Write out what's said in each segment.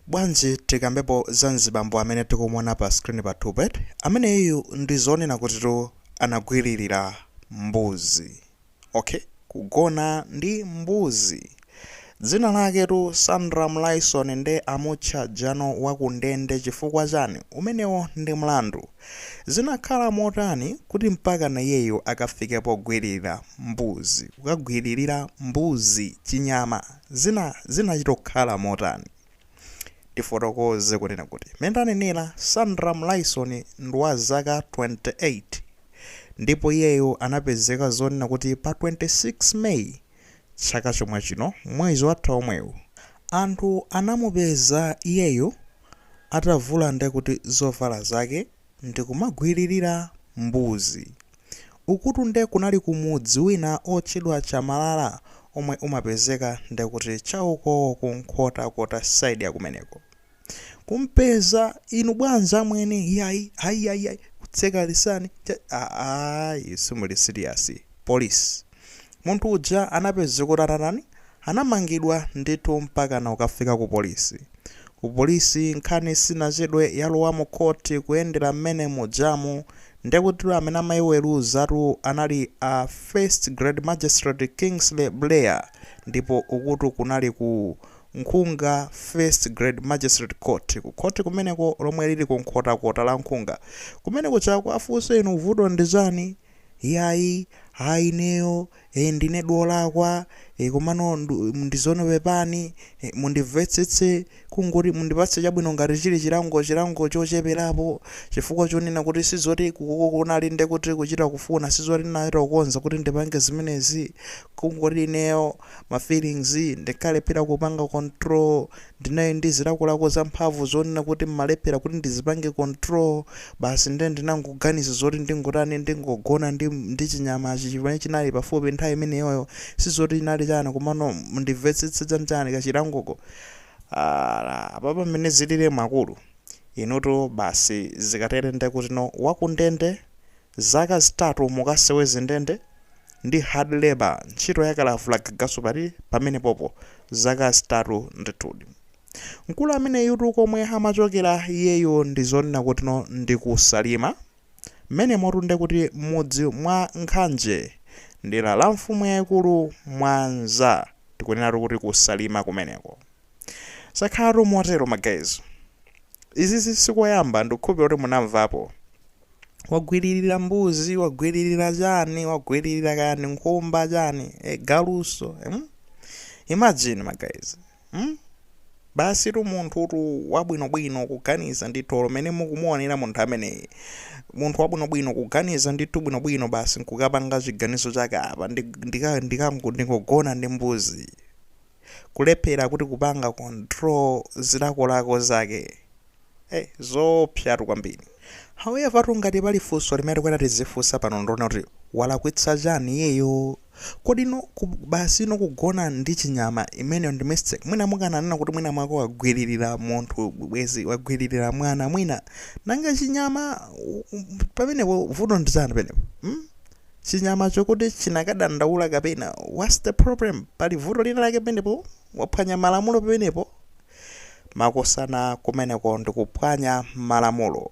Bwanji tikambepo za nzibambo amene tikumuona pa screen pathupa eti? Ameneyuyu ndi zonena kutitu anagwililira mbuzi. Ok? Kugona ndi mbuzi. Dzina laketu Sandram Lyson nde amutcha njanu wa ku ndende chifukwa chani? Umenewo ndi mlandu. Zinakhala motani kuti mpakana iyeyo akafike pogwililira mbuzi? Kukagwililira mbuzi, chinyama? zina zinachita kukhala motani? Tifotokoze kunena kuti, mmene tanenera, Sandram Lyson ndi wa zaka 28 ndipo iyeyo anapezeka zonena kuti pa 26 May chaka chomwe chino mwezi watha omwewu, anthu anamupeza iyeyo atavula ndekuti zovala zake ndikumagwililira mbuzi. Ukutu nde kunali ku mudzi wina otchedwa Chamalala omwe umapezeka ndekuti cha ukouko ku Nkhotakota side ya kumeneko. Kumpeza, inu bwanji amwene, yayi, ayi, ayi, ayi, kutseka lisani, cha, ayi, simuli siliyasi, police. Munthu uja anapezeka kuti anatani? Anamangidwa ndithu mpakana kukafika ku polisi. Ku polisi nkhani sinachedwe yalowa mu court kuyendera mmene mujamu ndekutitu amene amaiweruzatu anali a First Grade Magistrate Kingsley Buleya ndipo ukutu kunali ku Nkhunga First Grade Magistrate Court ku khoti kumeneko lomwe lili ku Nkhotakota la Nkhunga kumene kujaku afunse inu vuto ndi chani? Iyayi, a ineyo, e ndine wolakwa, e komano ndi zoona pepani, e mundimvetsetse, kungoti mundipatse chabwino ngati chili chilango, chilango chocheperapo, chifukwa chonena kuti sizoti ku ku kunali nde kuti kuchita kufuna, sizoti ndinachita kukonza kuti ndipange zimenezi, kungoti ineyo ma feelings ndinkalephera kupanga control, Ndinali ndi zilakolako za mphamvu zonena kuti ndimalephela kuti ndizipange control, basi nde ndinangoganiza zoti ndingotani ndingogona ndi ndi chinyamachi chimene chinali pafupi nthawi imeneyoyo, sizoti chinali chani komano mundimvetsetse chani chani kachilangoko aah apapa mmene zililimu akulu inutu basi zikatele ndekuti inu wakundende Zaka zitatu mukaseweze ndende ndi hard labour ntchito yakalavula gagaso pati pamenepopo zaka zitatu ndithudi. Mkulu ameneyutu komwe amachokera iyeyo ndi zonena kutino ndi ku Salima mmenemotu ndekuti mmudzi mwa Nkhanje mdera la mfumu yaikulu Mwanza tikunenatu kuti ku Salima kumeneko. Zakhalatu motero ma guys. Izizi sikoyamba ndikukhulupilira kuti munamvapo. wagwiririra mbuzi wagwiririra chani wagwiririra kani nkhumba chani e, galuso hmm? imagine magayizi hmm? basi tu munthutu wabwinobwino kuganiza ndithu olo mene mukumuonera munthu ameneyi munthu wabwinobwino kuganiza ndithu bwinobwino basi nkukapanga chiganizo chake apa ndikangogona ndi mbuzi kulephela kuti kupanga control zilakolako zake eh zoopsatu kwambiri however tu ngati pali funso limene tikuyenera tizifunsa pano ndonena kuti walakwitsa chani iyeyo kodi no ku, basi no kugona ndi chinyama imeneyo ndi mistake mwina mukananena kuti mwina mwake wagwiririra munthu bwezi wagwiririra mwana mwina nanga chinyama u- u- pamenepo vuto ndi chani penepo hmm? chinyamacho kuti chinakadandaula kapena? whats the problem? pali vuto lina lake pamenepo? waphwanya malamulo pamenepo. makosana kumeneko ndikuphwanya malamulo.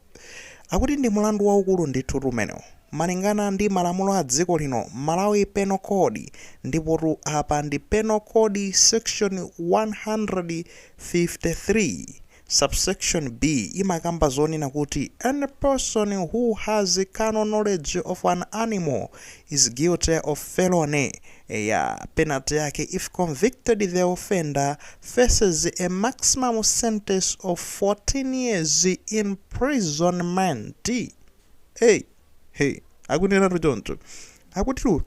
akuti ndi mulandu waukulu ndithutu umenewo malingana ndi malamulo a dziko lino, malawi penal code, ndipotu apa ndi penal code section 153. Subsection B imakamba zonena kuti any person who has carnal knowledge of an animal is guilty of felony, eya, penalty yake if convicted the offender faces a maximum sentence of 14 years imprisonment, ey, he, akunenatu choncho, akutitu.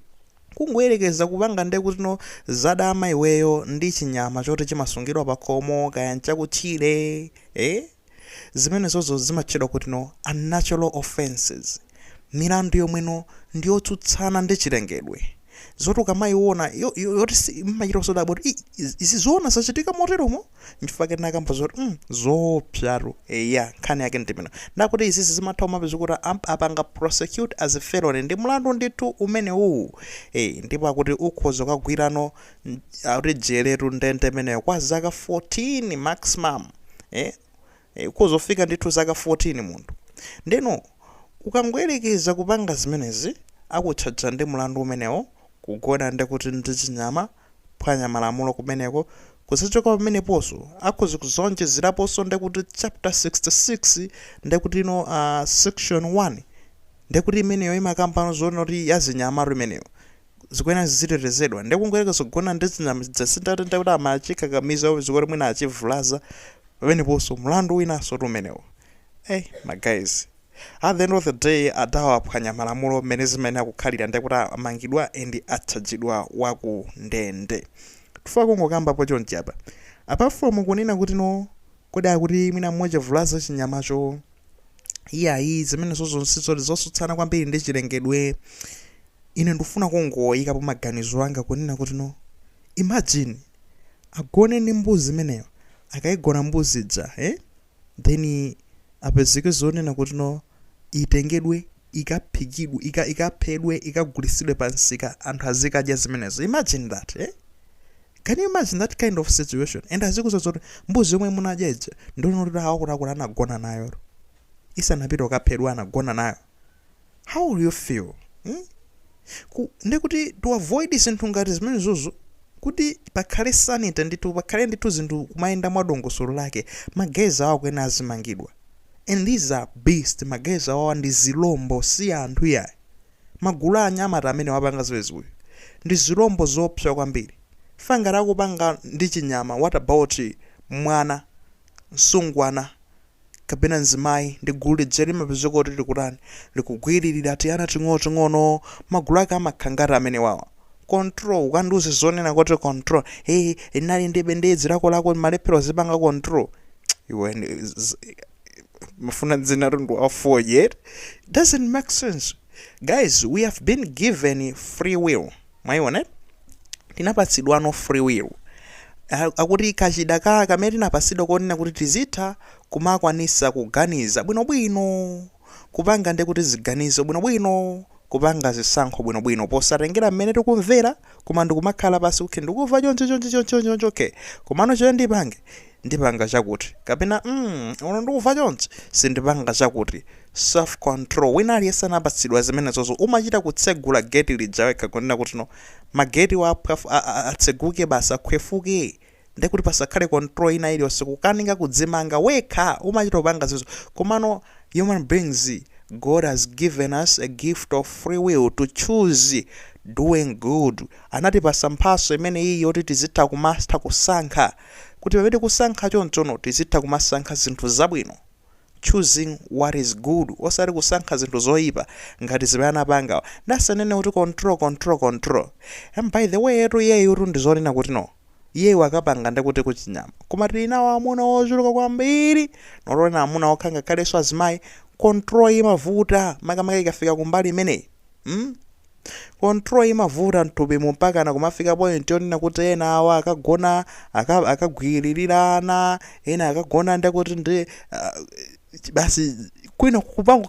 Kungoyerekeza kupanga nde kuti no zadama iweyo ndi chinyama choti chimasungidwa pakhomo kaya nchakutchire ee zimenezozo zimatchedwa kuti no unnatural offences milandu yomwe no ndiyotsutsana ndi chilengedwe yoti ukamayiwona yo yo yoti ii mmachita kusodabwa kuti ii izi zoona zachitika moteromo? nchifukwa chake tinakamba zoti mm zoopsatu eya nkhani yake ndimeneyo ndakuti izizi zimatha kumapeza kuti am- apanga prosecute as a felony ndi mlandu ndithu umenewuwu eh ndipo akuti ukhoza kukagwira no mm, akuti jeletu ndende imeneyo kwa zaka 14 maximum eh eh, ukhoza kufika ndithu zaka 14 munthu ndeno ukangoyerekeza kupanga zimenezi akutchaja ndi mlandu umenewo kugona ndekuti ndi chinyama kuphwanya malamulo kumeneko kuzachoka pameneponso akhoza kuzaonjezeraponso ndekuti chapter 66 ndekuti no uh, section 1 ndekuti imeneyo imakambano zonena kuti yazinyamatu imeneyo zikuyenera zizitetezedwa ndekungoyerekeza zogona ndi zinyama zasintata ndekuti amachikakamiza zikuti mwina achivulaza pameneponso mlandu winasotu umenewo hey, ma guys At the end of the day adawaphwanya malamulo mmene zimayenera kukhalira ndekuti amangidwa and atchajidwa wakundende. Chifukwa kungokambapo chonchi apa apart from kunena kuti no kodi akuti mwina mmodzi avulaza chinyamacho iyayi zimenezozo sizoti zosutsana kwambiri ndi chilengedwe ine ndikufuna kungoyikapo maganizo anga kunena kuti no imagine agone ndi mbuzi imeneyo akayigona mbuzi ija eh? then apezeke zonena kuti no itengedwe ikaphikidwe ika, ikaphedwe ikagulitsidwe pamsika anthu azikadya zimenezo imagine that eh? can you imagine that kind of situation and azikuuza zoti mbuzi yomwe munadya ija ndi yonena kuti awakutiakuti anagona nayo isanapite kukaphedwa anagona nayo how will you feel mm? Ku, ndi kuti to avoid zinthu ngati zimenezozo kuti pakhale sanity ndithu pakhale ndithu zinthu kumayenda mwa dongosolo lake ma guys awawa akuyenera azimangidwa and these are beasts ma guys awawa ndi zilombo si anthu yayi magulu a anyamata amene apanga zimenezi uyu ndi zilombo zoopsa kwambiri chifukwa ngati akupanga ndi chinyama what about mwana msungwana kapena mzimayi ndi gulu lija limapezeka kuti likutani likugwiririra tiana ting'onoting'ono magulu ake amakhala ngati amenewawa control ukandiuze zonena kuti control hey, ndinali ndi ndinali ndi zilakolako ndimalephera kudzipanga control iwe ndi- z- amafuna zina mtundu wa fodya doesn't make sense guys we have been given free will mwayiona eh? tinapatsidwano free will a- ndekuti kachida ka kamene tinapatsidwa konena kuti tizitha kumakwanisa kuganiza bwinobwino kupanga ndekuti ziganizo bwinobwino kupanga zisankho bwinobwino posatengera mmene tikumvera koma ndikumakhala pansi kuti ndikumva choncho choncho choncho choncho choncho komano choyo ndipange ndipanga chakuti kapena mm, no ndikumva chonchi sindipanga chakuti self control wina aliyense anapatsidwa zimenezozo umachita kutsegula gate lija wekha kunena kuti no ma gate awa akhwefu a, a, atseguke basi akhwefuke ndiye kuti pasakhale control ina iliyonse kukanika kudzimanga wekha umachita kupanga zimenezo komano human beings God has given us a gift of free will to choose doing good anatipatsa mphatso imene iyi yoti tizitha kumatha kusankha kuti pamene tikusankha chonchono tizitha kumasankha zinthu zabwino choosing what is good osati kusankha zinthu zoipa ngati zimene anapangawa nde asanene kuti control control control and by the way etu iyeyutu ndizonena kuti no iyeyu wakapanga ndekuti kuchinyama koma tili nawo amuna ochuluka kwambiri not kunena amuna okha ngakhalenso azimayi control imavuta makamaka ikafika kumbali imeneyi mm? Control imavuta mthupimu mpakana kumafika point yonena kuti ena awa akagona aka, akagwiririra ana, ena akagona ndekuti ndi ah, ch- basi kwina kupanga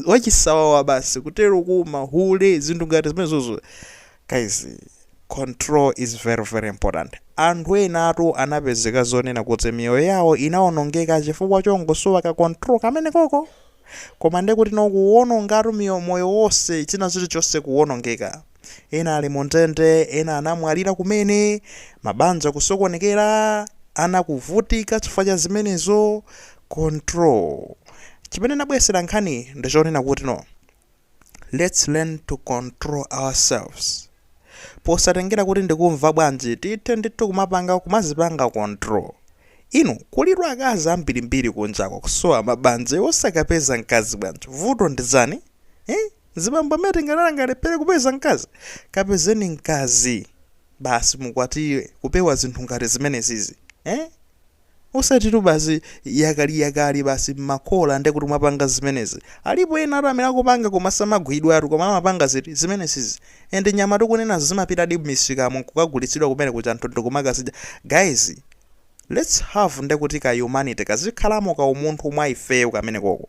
zachisawawa basi kutero kuma hule zinthu ngati zimenezozo guys control is very very important anthu enatu anapezeka zonena kuti miyoyo yawo inaonongeka chifukwa chongosowa ka control kamene koko Koma nde kuti no kuwonongatu miyo, moyo wonse, china chilichonse kuwonongeka. Ena ali mundende, ena anamwalira kumene, mabanja kusokonekera, ana kuvutika chifukwa cha zimenezo. Control. Chimene nabwesera nkhaniyi ndi chonena kuti no. Let's learn to control ourselves. Posatengera kuti ndikumva bwanji, tithe ndithu kumapanga kumazipanga control. Inu, kulitu akazi ambirimbiri kunjako kusowa mabanja, iwe osakapeza mkazi bwanji? Vuto ndi chani? Eh? Zibambo amene angale angalephere kupeza mkazi? Kapezeni mkazi. Basi mukwatire, kupewa zinthu ngati zimenezizi. Eh? Osatitu basi yakaliyakali basi mmakhola nde kuti mwapanga zimenezi. Alipo enatu amene akupanga koma samagwidwatu koma amapanga ziti? Zimenezizi. And nyama tikunenazi zimapitadi mmisikamo nkukagulitsidwa kumene kuja anthu ndikumakazidya. Guys let's have ndekuti ka humanity kazikhalamo ka umunthu mwa ifeyo kamene koko.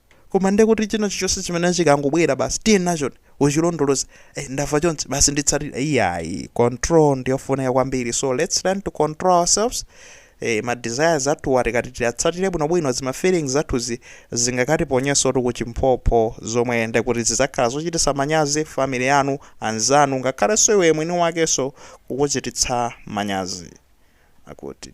Koma nde kuti china chilichonse chimene chikangobwera basi tiye nachoni uchilondoloza eh, ndamva chonse basi nditsatira iyayi control ndiyofunika kwambiri so let's learn to control ourselves eh, ma desires athuwa tikati tiyatsatire bwinobwino zima feelings zathuzi zingakatiponyensotu kuchiphompho zomwe nde kuti zidzakhala zochititsa manyazi family yanu anzanu ngakhalenso iwe mwini wakenso kukuchititsa manyazi akuti